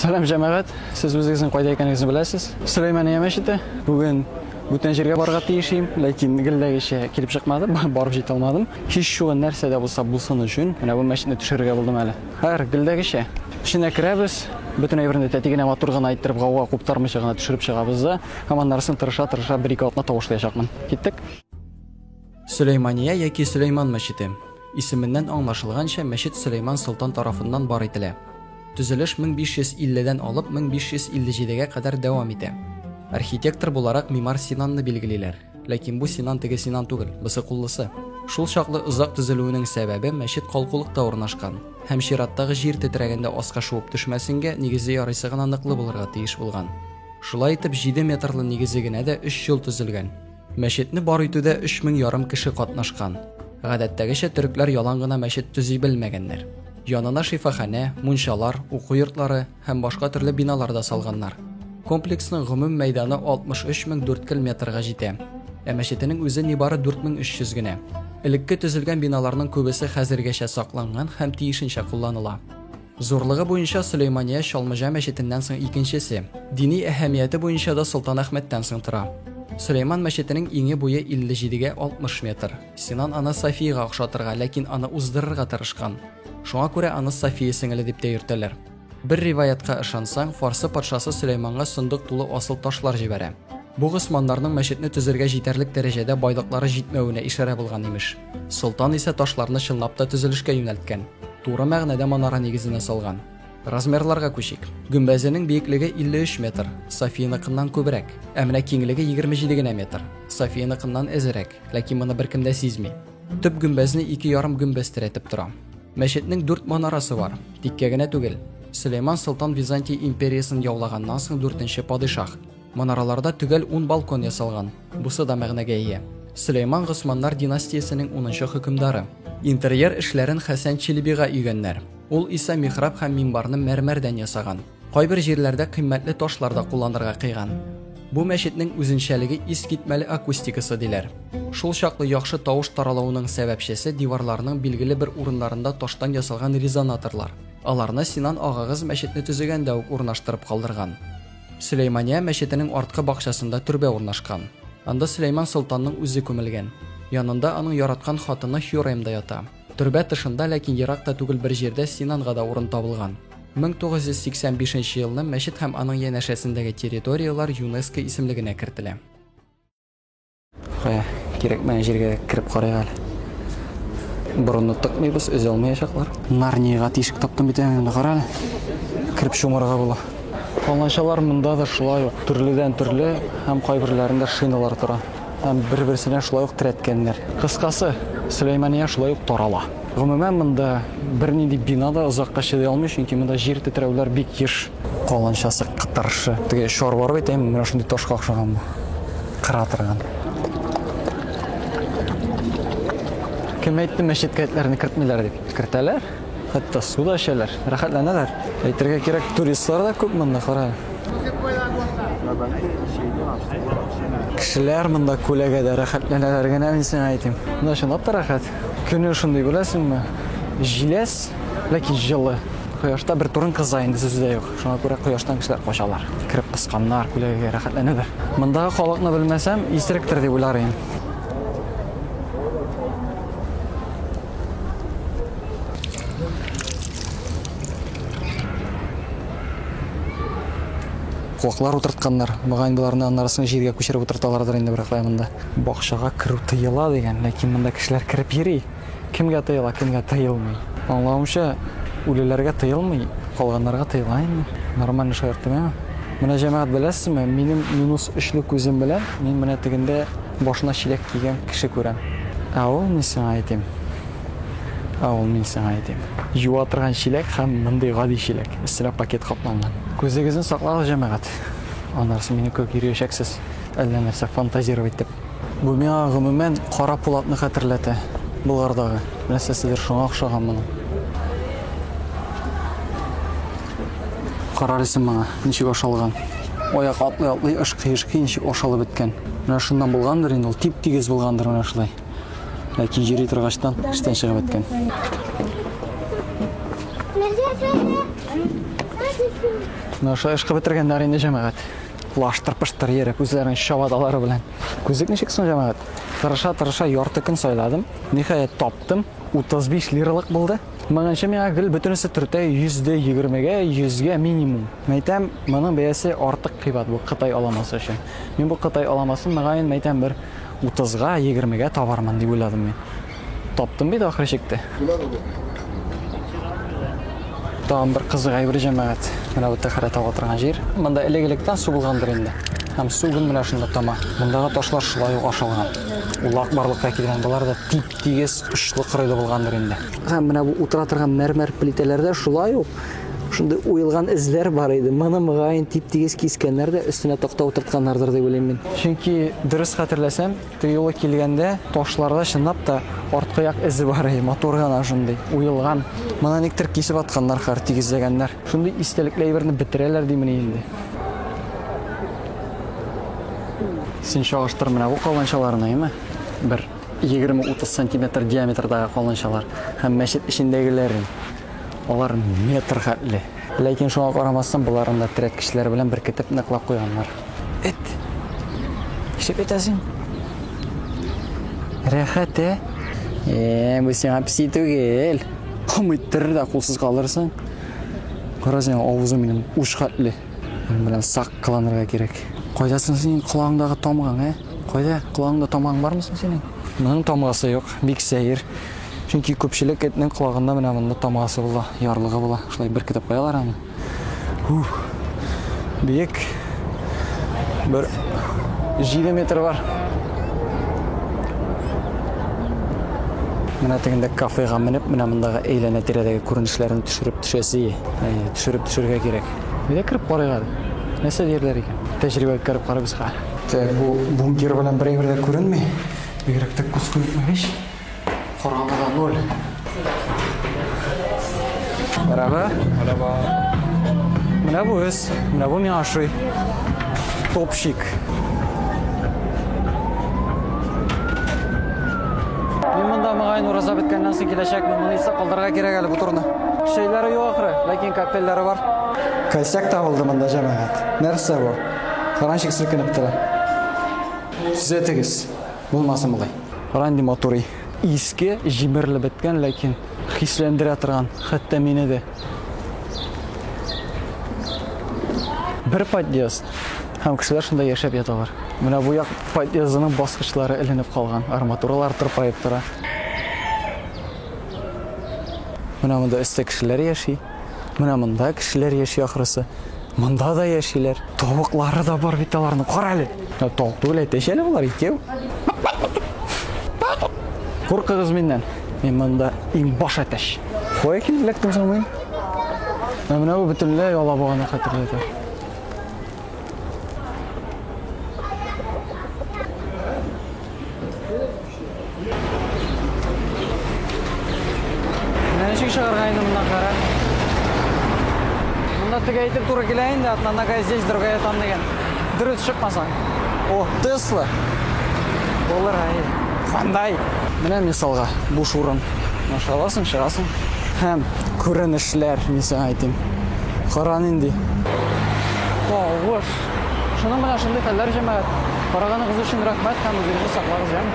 Сәлам җәмәгать, сез үзегезнең кайда икәнегезне беләсез? Сөләймания мәчете. Бүген бүтән җиргә барырга тиеш идем, ләкин гелләгечә килеп чыкмады, барып җитә алмадым. Һич шугы нәрсә дә булса булсын өчен, менә бу мәчетне төшерергә булдым әле. Хәер, гелләгечә. Эченә керәбез, бөтен әйберне тәти генә матур гына иттереп гауга куптармыйча гына төшереп чыгабыз да, һәм аннарысын тырыша-тырыша бер-ике атна тавышлаячакмын. Киттек. Сөләймания яки Сөләйман мәчете. Исеменнән аңлашылганча, мәчет Сөләйман солтан тарафыннан бар ителә. Төзелеш 1550-дән алып 1557-гә кадәр дәвам итә. Архитектор буларак мимар Синанны билгелиләр. Ләкин бу Синан теге Синан түгел, бысыкуллысы. Шул чаклы озак төзелүенең сәбәбе мәчет калкулыкта урнашкан һәм чираттагы җир тетрәгәндә аска шуып төшмәсенгә, нигезе ярыйсы гына ныклы булырга тиеш булган. Шулай итеп, җиде метрлы нигезе генә дә өч ел төзелгән. Мәчетне бар итүдә 3000 ярым кеше катнашкан. Гадәттәгечә төрекләр ялан гына мәчет төзи белмәгәннәр. Янына шифаханә, мунчалар, уку йортлары һәм башка төрле биналар да салганнар. Комплексның гомум мәйданы 63 мең дүрткел метрга җитә. Ә мәчетенең үзе нибары 4300 генә. Элекке төзелгән биналарның күбесе хәзергәчә сакланган һәм тиешенчә кулланыла. Зурлыгы буенча Сөләймания Чалмыҗа мәчетеннән соң икенчесе. Дини әһәмияте буенча да Солтанәхмәттән соң тора. Сөләйман мәчетенең иңе буе 57-гә 60 метр. Синан аны Сафиягә охшатырга, ләкин аны уздырырга тырышкан. Шуңа күрә аны Сафия сеңеле дип тә йөртәләр. Бер риваятка ышансаң, фарсы патшасы Сөләйманга сондык тулы асыл ташлар җибәрә. Бу госманнарның мәчетне төзергә җитәрлек дәрәҗәдә байлыклары җитмәвенә ишарә булган, имеш. Солтан исә ташларны чынлап та төзелешкә юнәлткән. Туры мәгънәдә манара нигезенә салган. Размерларга күчик. Гөмбәзенең биеклеге 53 метр, Софияныкыннан күбрәк. Ә менә киңлеге 27 генә метр. Софияныкыннан әзерәк, ләкин моны беркем дә сизми. Төп гөмбәзне ике ярым гөмбәз терәтеп тора. Мәчетнең дүрт манарасы бар, тиккә генә түгел. Сөләйман Солтан Византия империясын яулаганнан соң дүртенче падишаһ. Манараларда төгәл ун балкон ясалган, бусы да мәгънәгә ия. Сөләйман Госманнар династиясенең унынчы хөкемдары. Интерьер эшләрен Хәсән Чилебига өйгәннәр. Ул исә михраб һәм минбарны мәрмәрдән ясаган. Кайбер җирләрдә кыйммәтле ташлар да кулланырга кыйган. Бу мәчетнең үзенчәлеге искитмәле акустикасы, диләр. Шул чаклы яхшы тавыш таралуының сәбәпчесе диварларының билгеле бер урыннарында таштан ясалган резонаторлар. Аларны Синан агагыз мәчетне төзегәндә үк урнаштырып калдырган. Сөләймания мәчетенең арткы бакчасында төрбә урнашкан. Анда Сөләйман солтанның үзе күмелгән. Янында аның яраткан хатыны Хюрем да ята. Төрбә тышында, ләкин ерак та түгел бер җирдә Синанга да урын табылган. 1985 нче елны мәчет һәм аның янәшәсендәге территорияләр ЮНЕСКО исемлегенә кертелә. Кая, кирәкмәгән җиргә кереп карыйк әле. Борынны тыкмыйбыз, өзә алмаячаклар. Нарниягә тишек таптым бит әле, менә кара әле. Кереп чумарга була. Аланчалар монда да шулай ук төрледән төрле һәм кайберләрендә шиналар тора. Һәм бер-берсенә шулай ук терәткәннәр. Кыскасы, Сөләймания шулай ук тарала. Гомумән, монда бернинди бина да озакка чыдый алмый, чөнки монда җир тетрәүләр бик еш. Каланчасы кытыршы. Теге шар бар бит, әйме, менә шундый ташка охшаган бу. Кыра торган. Кем әйтте мәчеткә этләрне кертмиләр дип? Кертәләр. Хәтта су да эчәләр, рәхәтләнәләр. Әйтергә кирәк, туристлар да күп монда, кара. Кешеләр монда күләгәдә рәхәтләнәләр генә, мин сиңа әйтим. Монда чынлап та рәхәт. Көне шундый, беләсеңме? Җиләс, ләкин җылы. Кояшта бер турын кыза инде сүзе дә юк. Шуңа күрә кояштан кешеләр качалар. Кереп пысканнар, күләгәгә рәхәтләнәләр. Мондагы халыкны белмәсәм, исеректер дип уйлар идем. Куаклар утыртканнар. Мөгаен боларны аннары соң җиргә күчереп утырталардыр инде берәр кая монда. Бакчага керү тыела дигән, ләкин монда кешеләр кереп йөри. Кемгә тыела, кемгә тыелмый? Аңлавымча, үлеләргә тыелмый, калганнарга тыела инде. Нормальный шаярт түгел. Менә җәмәгать беләсезме, минем минус өчле күзем белән мин менә тегендә башына чиләк кигән кеше күрәм. Ә ул мин сиңа әйтим. Ә ул мин сиңа әйтим. Юа торган чиләк һәм мондый гади чиләк, өстенә пакет капланган. Күзегезне саклагыз, җәмәгать. Аннары сез мине күреп йөриячәксез, әллә нәрсә фантазировать итеп. Бу миңа гомумән Кара Пулатны хәтерләтә. Болгардагы нәрсәседер шуңа охшаган моның. Карарсың моңа, ничек ашалган. Аяк атлый-атлый ышкый-ышкый ничек ашалып беткән. Менә шуннан булгандыр инде ул, тип-тигез булгандыр менә шулай. Ләкин йөри торгачтан эштән чыгып беткән. Менә шулай ышкып бетергәннәр инде җәмәгать. лаштыр-пыштыр йөреп, үзләренең чабаталары белән. Күзлек ничек соң, җәмәгать? Тырыша-тырыша ярты көн сайладым. Ниһаять таптым. 35 лиралык булды. Моңынчы миңа гел бөтенесе төртә 100 дә 20-гә, 100-гә минимум. Мәйтәм, моның бәясе артык кыйбат бу Кытай аламасы өчен. Мин бу Кытай аламасын, мөгаен, мәйтәм, бер 30-га, 20-гә табармын дип уйладым мин. Таптым бит ахыры чикте. Тагын бер кызык әйбер җәмәгать. Менә бу тәхәрә таба торган җир. Монда элек-электән су булгандыр инде. Һәм су гел менә шунда тама. Мондагы ташлар шулай ук ашалган. Улак барлыкка килгән болар да тип-тигез очлы кырыйлы булгандыр инде. Һәм менә бу утыра торган мәрмәр плитәләрдә шулай ук шундый уелган эзләр бар иде. Моны мөгаен тип-тигез кискәннәр дә өстенә такта утыртканнардыр дип уйлыйм мин. Чөнки дөрес хәтерләсәм, Тыюлы килгәндә, ташларда чынлап та арткы як эзе бар, әй, матур гына шундый, уелган. Моны никтер кисеп атканнар, хәер, тигезләгәннәр. Шундый истәлекле әйберне бетерәләр димени инде. Син чагыштыр менә бу каланчаларны, әйме? Бер 20-30 сантиметр диаметрдагы каланчалар һәм мәчет эчендәгеләрен. Алар метр хәтле. Ләкин шуңа карамастан, боларны да терәткечләр белән беркетеп ныклап куйганнар. Эт. Ишеп әйтәсең. Рәхәт, ә? Э, бу сиңа песи түгел. Кымыттырыр да кулсыз калырсың. Кара синең авызың минем уш хәтле. Минем белән сак кыланырга кирәк. Кайда соң синең колагыңдагы тамгаң, ә? Кайда? Колагыңда тамгаң бармы соң синең? Моның тамгасы юк, бик сәер. Чөнки күпчелек этнең колагында менә монда тамгасы була, ярлыгы була. Шулай беркетеп куялар аны. Ух, бик бер 7 метр бар. Менә тегендә кафега менеп, менә мондагы әйләнә тирәдәге күренешләрен төшереп төшәсе, ә, төшереп төшергә кирәк. Нигә кереп карыйк әле? Нәрсә диярләр икән? Тәҗрибә үткәреп карыйбыз хәзер. Тә бу бункер белән бер әйбер дә күренми. Бигрәк тә күз күренмәгәч. Караңгыда ноль. Бәрәбә. Бәрәбә. Менә бу өс, менә бу миңа ошый. Топщик. Мин монда мөгаен ураза беткәннән соң киләчәкмен. Моны исә калдырырга кирәк әле бу турны. Шәйләре юк ахры, ләкин капельләре бар. Косяк табылды монда җәмәгать. Нәрсә бу? Кранчик селкенеп тора. Төзәтегез. Булмасын болай. Кара инде матурый. Иске, җимерелеп беткән, ләкин хисләндерә торган, хәтта мине дә. Бер подъезд һәм кешеләр шунда яшәп яталар. Менә бу як подъездының баскычлары эленеп калган, арматуралар тырпаеп тора. Менә монда өстә кешеләр яши. Менә монда кешеләр яши ахрысы. Монда да яшиләр. Тавыклары да бар бит аларның. Кара әле. Ә тавык түгел әйтәче әле болар икәү. Куркыгыз миннән. Мин монда иң баш әтәч. Кая килеп эләктем соң мин? Ә менә бу бөтенләй алабуганы хәтерләтә. Менә ничек чыгарга инде моннан кара. Монда теге әйтеп туры килә инде, одна нога здесь, другая там дигән. Дөрес чыкмасаң. О, Тесла. Булыр ай. Хандай. Менә мисалга буш урын. Аша аласың, чыгасың. Һәм күренешләр, мин сиңа әйтим. Кара нинди. Тавыш. Шуның белән шундый хәлләр, җәмәгать. Караганыгыз өчен рәхмәт һәм үзегезне саклагыз, җан.